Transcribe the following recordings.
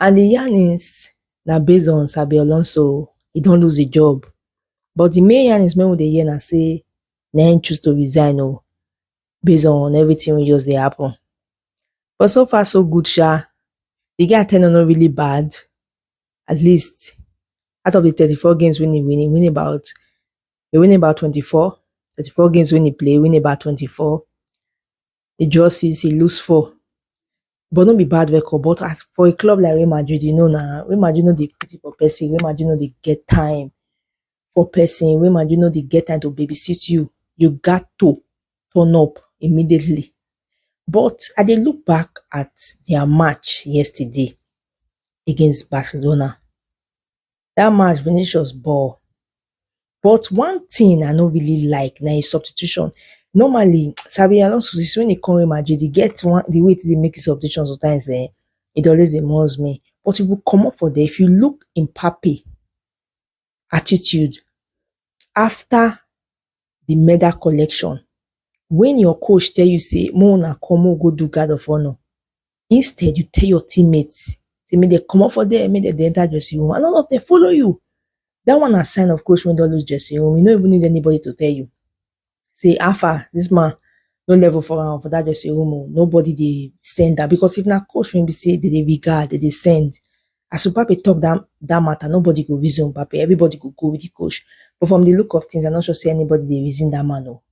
and di yarnings na base on Xabi Alonso, e don lose di job but di main yarnings wey we dey hear na say na im choose to resign o base on everything wey just dey happen but so far so good sha, di guy ten ure no really bad at least out of di thirty four games wey im win, im win about im win about twenty four, thirty four games wey im play, im win about twenty four e just see sey e lose four but no be bad record but as for a club like Real Madrid you know na Real Madrid no dey pity for person, Real Madrid no dey get time for person, Real Madrid no dey get time to baby sit you, you gat to turn up immediately but I dey look back at their match yesterday against Barcelona dat match Vinicius ball but one thing I no really like na im substitution normally Xabi Alonso since when he come Real Madrid he get one the way he take dey make his substitution sometimes um he dey always dey muzz me but if he comot for there if you look Mbappe attitude after the medal collection when your coach tell you say make una come make we go do guard of honour instead you tell your teammates say make dem comot for there make dem dey enter dressing room and all of them follow you that one na sign of coach wey don lose dressing room you no even need anybody to tell you say how far this man no level for am for that dressing room o nobody dey send am because if na coach wey be say dem dey regard dem dey send as Mbappe talk that that matter, nobody go reason Mbappe. Everybody go go with the coach. But from the look of things, I'm not sure say anybody they reason that man. Oh.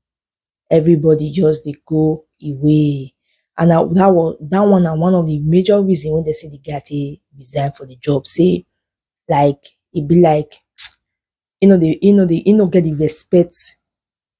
Everybody just they go away. And that, that was that one and one of the major reason when they say the guy they resign for the job. Say like it be like you know the you know the you know get the respect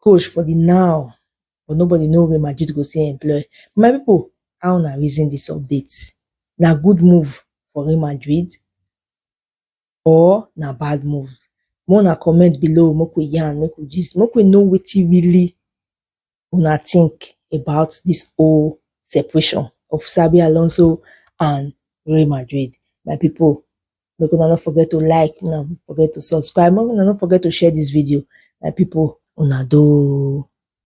coach for the now, but nobody know Real Madrid go still employ. My people, how na reason this update? Na good move for Real Madrid or na bad move? More na comment below, make we yarn, make we gist, make we know wetin really una think about this whole separation of Xabi Alonso and Real Madrid. My people, make una no forget to like una no forget to subscribe make una no forget to share this video my people una do.